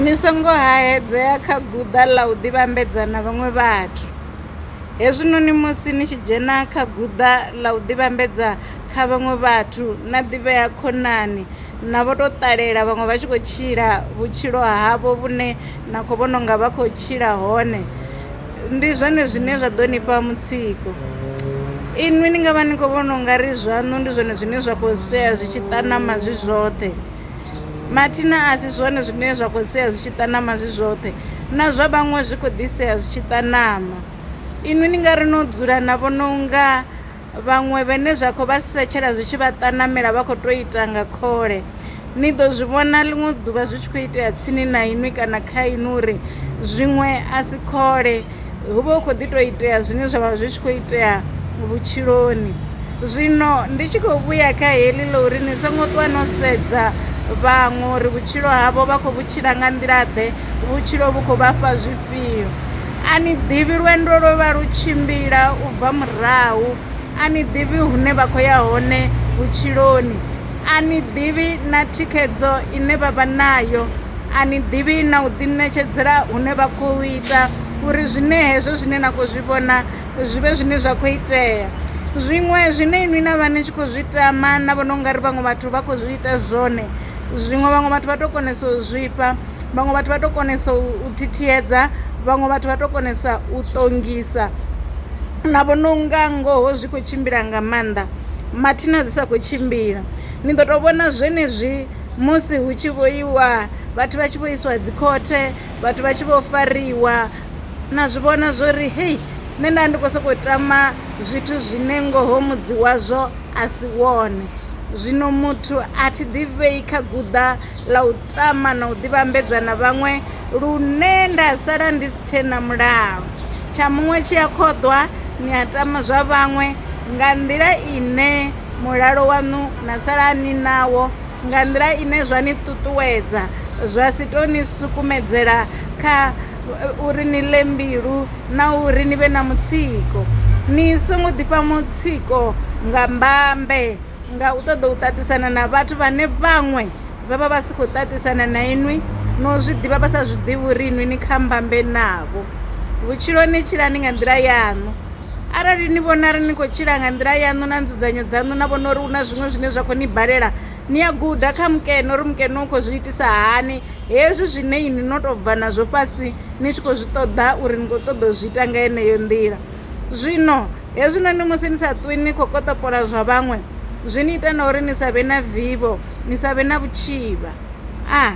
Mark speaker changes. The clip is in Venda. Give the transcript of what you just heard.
Speaker 1: Ni songo haedzea kha guḓa ḽa u ḓivhambedza na vhaṅwe vhathu. Hezwinoni musi ni tshi dzhena kha guḓa ḽa u ḓivhambedza kha vhaṅwe vhathu, na ḓivhea khonani na vho to ṱalela vhaṅwe vha tshi khou tshila vhutshilo havho vhune na khou vhona unga vha khou tshila hone, ndi zwone zwine zwa ḓo nifha mutsiko. Inwi ni ngavha ni kho vhona ungari zwaṋu ndi zwone zwine zwa kho sea zwi tshi ṱanama zwi zwoṱhe. mathina a si zwone zwine zwa khou sea zwi tshi ṱanama zwi zwoṱhe na zwa vhaṅwe zwi khou ḓisea zwi tshi ṱanama inwi ni nga ri no dzula na vhona unga vhaṅwe vhene zwa khou vha setshela zwi tshi vha ṱanamela vha khou to ita nga khole ni ḓo zwi vhona ḽiṅwe ḓuvha zwi tshi khou itea tsini na inwi kana kha inwi uri zwiṅwe a si khole hu vha hu khou ḓi tou itea zwine zwa vha zwi tshi khou itea vhutshiloni zwino ndi tshi khou vhuya kha heḽi ḽa uri ni songo ṱuwa no sedza vhaṅwe uri vhutshilo havho vha khou vhutshila nga nḓila ḓe vhutshilo vhu khou vhafha zwifhio a ni ḓivhi lwendo lwo vha lu tshimbila u bva murahu a ni ḓivhi hune vha khou ya hone vhutshiloni a ni ḓivhi na thikhedzo ine vha vha nayo a ni ḓivhi na u ḓiṋetshedzela hune vha khou ita uri zwine hezwo zwine na khou zwi vhona zwi vhe zwine zwa khou itea zwiṅwe zwine inwi na vha ni tshi khou zwi tama na vhona ungari vhaṅwe vhathu vha khou zwi ita zwone zwiṅwe vhaṅwe vhathu vha to konesa u zwifha vhaṅwe vhathu vha to konesa u thithiedza vhaṅwe vhathu vha to konesa u ṱongisa na vhona unga ngoho zwi khou tshimbila nga maanḓa mathina zwi sa kho tshimbila ni ḓo to vhona zwenezwi. Musi hu tshi vho iwa vhathu vha tshi vho isiwa dzi khothe vhathu vha tshi vho fariwa na zwi vhona zwo ri hei nṋe nda ndi khou sokou tama zwithu zwine ngoho mudzi wazwo a si wone zwino muthu a thi ḓivhei kha guḓa ḽa u tama na u ḓivhambedza na vhaṅwe lune nda sala ndi si tshe na mulalo tsha muṅwe tshi a khoḓwa ni a tama zwa vhaṅwe nga nḓila ine mulalo waṋu na sala ni nawo nga nḓila ine zwa ni ṱuṱuwedza zwa si tou ni sukumedzela kha uri ni ḽe mbilu na uri ni vhe na mutsiko. Ni songo ḓifha mutsiko nga mbambe nga u ṱoḓa u ṱaṱisana na vhathu vhane vhaṅwe vha vha vha si khou ṱaṱisana na inwi no zwi ḓivha vha sa zwi ḓivhi uri inwi ni kha mbambe navho. Vhutshiloni tshilani nga nḓila yaṋu. Arali ni vhona uri ni khou tshila nga nḓila yaṋu na nzudzanyo dzaṋu na vhona uri hu na zwiṅwe zwine zwa khou ni balela ni a guda kha mukene uri mukene u khou zwi itisa hani hezwi zwine ini no tou bva nazwo fhasi ni tshi khou zwi ṱoḓa uri ni khou ṱoḓa u zwi ita nga yeneyo nḓila zwino hezwinoni musi ni sa ṱwi ni khou koṱopola zwa vhaṅwe zwi ni ita na uri ni sa vhe na vivho ni sa vhe na vhutshivha a ah.